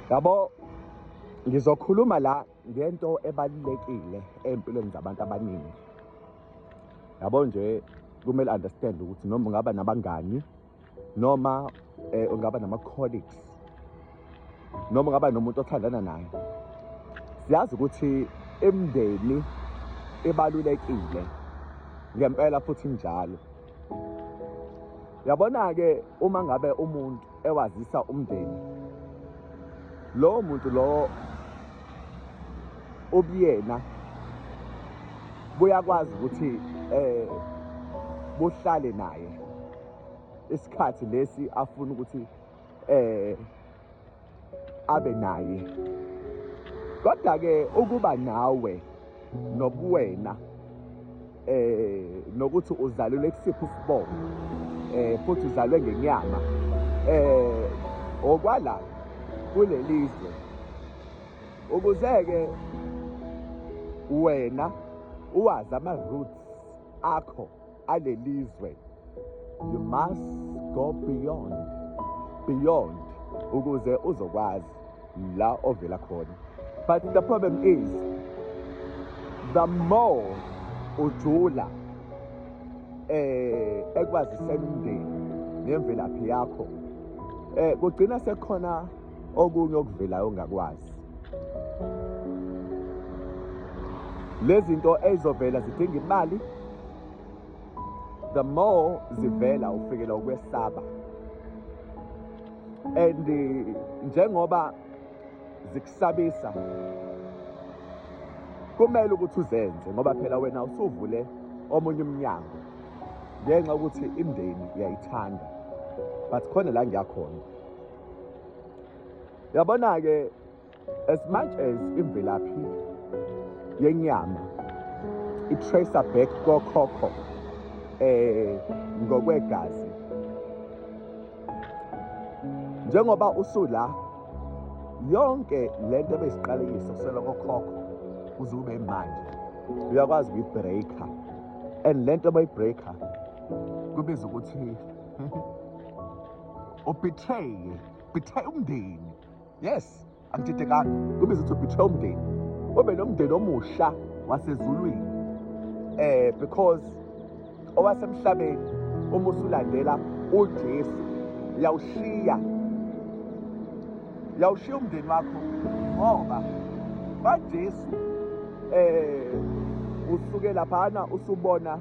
yabo ngizokhuluma la ngento ebalulekile empilweni zabantu abaningi yabo nje kumele understand ukuthi noma ungaba nabangani noma eh, ungaba nama colleagues noma ungaba nomuntu othandana naye siyazi ukuthi imndeni ibalulekile ngempela futhi njalo yabona ke uma ngabe umuntu ewazisa umndeni lowo muntu lowo ubuyena buyakwazi ukuthi eh buhlale naye isikhathi lesi afuna ukuthi eh abe naye kodwa ke ukuba nawe nobuwena eh nokuthi uzalule kusiphi isibongo eh futhi uzalwe ngenyama eh okwala kulelizwe ukuze ke wena uwazi ama roots akho alelizwe you must go beyond beyond ukuze uzokwazi la ovela khona but the problem is the more ujula eh ekwazisela umndeni nemvelaphi yakho eh kugcina sekukhona okunye okuvelayo ongakwazi lezinto ezovela zidinga imali the more zivela ufikela ukwesaba and eh, njengoba zikusabisa kumele ukuthi uzenze ngoba phela wena usuvule omunye umnyango ngenxa ukuthi imndeni iyayithanda but khona la ngiyakhona yabona-ke As much as imvelaphi yenyama i-tracer back kokhokho eh ngokwegazi njengoba usula yonke lento ebesiqalekisa kusela kokhokho kuze kube manje uyakwazi ukuyibreaker and lento abayibreaker kubiza ukuthi ubetraye betray umndeni Yes, angididekanga. Kube izothi ubetray umndeni. Ube nomndeni omusha wasezulwini. Eh because owasemhlabeni uma usulandela uJesu uyawushiya uyawushiya umndeni wakho ngoba baJesu eh usuke laphana usubona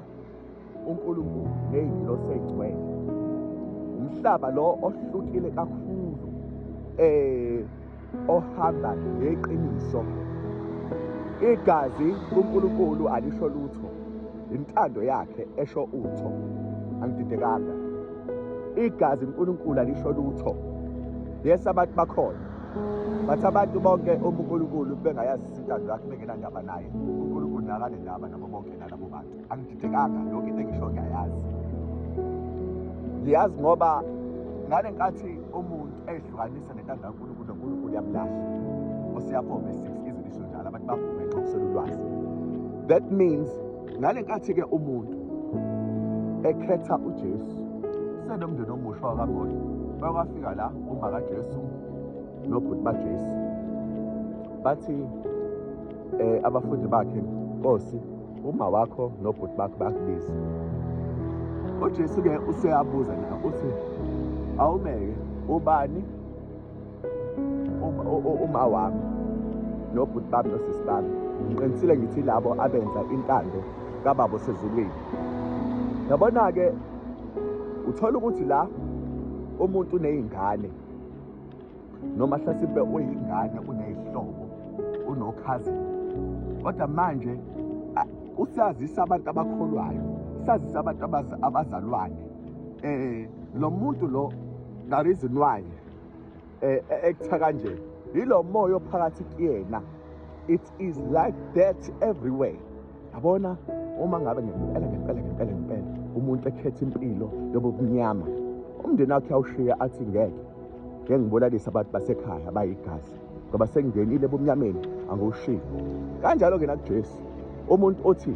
uNkulunkulu neyingilosi eyingcwele umhlaba lo ohlukile kakhulu eh ohamba ngeqiniso igazi kuNkulunkulu alisho lutho intando yakhe esho utho angididekanga igazi uNkulunkulu alisho lutho yes abantu bakhona bathi abantu bonke uma uNkulunkulu bengayazi intando yakhe bengenandaba naye uNkulunkulu nakanendaba nabo bonke nalabo bantu angididekanga yonke into engisho ngiyayazi ngiyazi ngoba ngale nkathi umuntu eyihlukanisa nento angankulunkulu nonkulunkulu uyamlahla osiyabhoma esix izwe lisho njalo abantu babhome nxa kuswela ulwazi that means ngale nkathi-ke umuntu ekhetha ujesu senomndeni omusha wakamoya bakwafika la uma kajesu nobhuti bajesu bathi um abafundi bakhe nkosi uma wakho nobhuti bakho bakubiza ujesu-ke useyabuza na uthi awumeke ubani uma wami nobhuti bami nosisi bami ngiqinisile ngithi labo abenza intando kababa osezulwini yabona-ke uthola ukuthi la umuntu uney'ngane noma hlasimpe uyingane uneyihlobo unokhazini kodwa manje usazisa abantu abakholwayo sazisa abantu abazalwane eh lo muntu lo the reason why eh ekutha kanje yilo moya ophakathi kuyena it is like that everywhere yabona uma ngabe ngempela ngempela ngempela ngempela umuntu ekhetha impilo yobubunyama umndeni wakhe awushiye athi ngeke ngeke ngibolalise abantu basekhaya bayigazi ngoba sengingenile ebumnyameni angiwushiyi kanjalo-ke nakujesu umuntu othi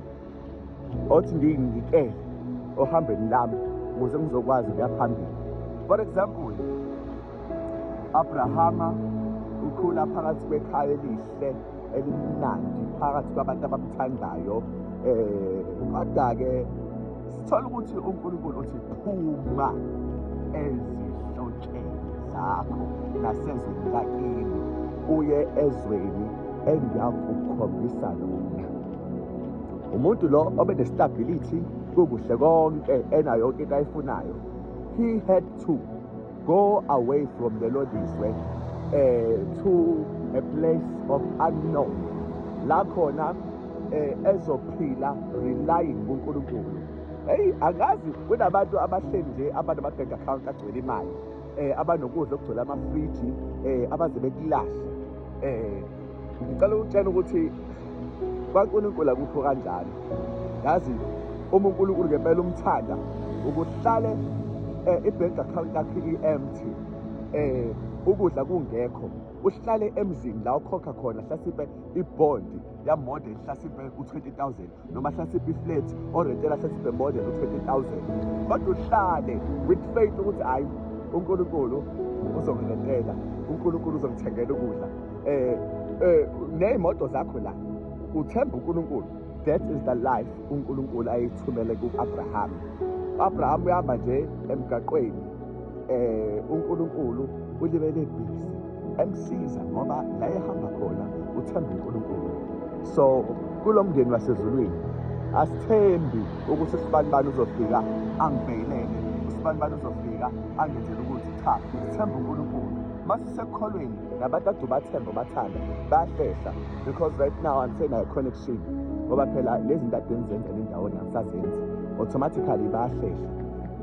othi ngiyingikele ohambeni lami ukuze ngizokwazi ukuya phambili for example abrahama ukhula phakathi kwekhaya elihle elimnandi phakathi kwabantu abamthandayo eh kodwa-ke sithola ukuthi unkulunkulu uthi phuma ezihlotsheni zakho nasezweni lakini uye ezweni engiyakukhombisa lona umuntu lo obe ne-stability kukuhle konke enayo yonke into ayifunayo he had to Go away from the Lodiswe eh to a place of unknown la khona eh ezophila relying kuNkulunkulu hey angazi kunabantu abahleli nje abantu ama-bank account agcwele imali eh abanokudla okugcwele amafriji eh abaze bekulahle eh Ngicela ukutshela ukuthi kwaNkulunkulu akukho kanjani. Yazi uma uNkulunkulu ngempela umthanda ukuhlale eh, i-bank account yakhe i-empty eh ukudla kungekho uhlale emzini la ukhokha khona hlasipe ibhondi yamoda ihlasipe u-20000 noma hlatsiphe iflat orentela hlatsiphe emodela u-20000 kodwa uhlale with faith ukuthi hhayi unkulunkulu uzongilentela unkulunkulu uzongithengela ukudla um um ney'moto zakho la uthemba unkulunkulu that is the life unkulunkulu ayithumele ku-abrahama u-abrahama uyahamba nje emgaqweni um unkulunkulu ulibele bhizi emsiza ngoba la ehamba khona uthemba uNkulunkulu so kulo mndeni wasezulwini asithembi ukuthi sibanibani uzofika angibhekelele usibanibani uzofika angenzele ukuthi cha sithemba uNkulunkulu masisekholweni nabantu ade ubathemba ubathanda bayahlehla because right now angisenayo connection ngoba phela lezi nto ade ngizenza nendawo ngisazenzi automatically bayahlehla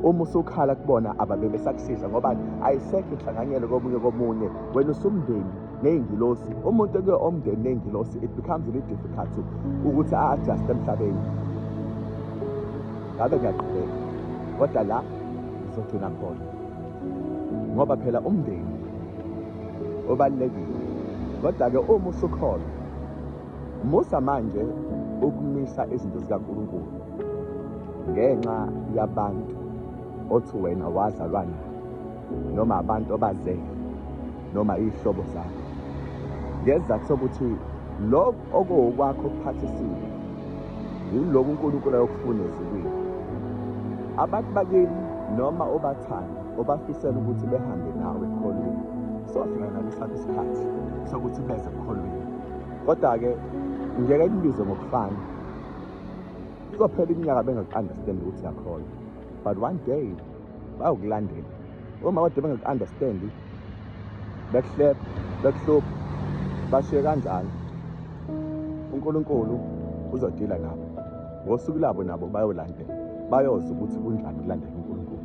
uma usukhala kubona ababe besakusiza ngoba ayisekho inhlanganyelo komunye komunye wena usumndeni ney'ngilosi umuntu ekuye omndeni ney'ngilosi it becomes really difficult ukuthi a-adjuste emhlabeni ngabe ngiyaqhubeka kodwa la ngizogcina khona ngoba phela umndeni obalulekile kodwa-ke uma usukhona Musa manje ukumisa izinto zikaNkulunkulu ngenxa yabantu othi wena wazalwa nabo noma abantu obazele noma iy'hlobo zakho ngesizathu sokuthi lokhu okuwokwakho okuphathisile yiloku uNkulunkulu ayokufuna ezulwini abantu bakini noma obathanda obafisela ukuthi behambe nawe ekholweni sofika nabo isikhathi sokuthi beze ekholweni Kodwa-ke ngeke ikubize ngokufana. Kuzophela iminyaka bengaku-understand ukuthi yakholwa. But one day bayokulandela. Uma kade bengaku-understand bekuhleba, bekuhlupha, bashiye kanjalo. UNkulunkulu uzodila nabo. Ngosuku labo nabo bayolandela. Bayozi ukuthi kunjani kulandela uNkulunkulu.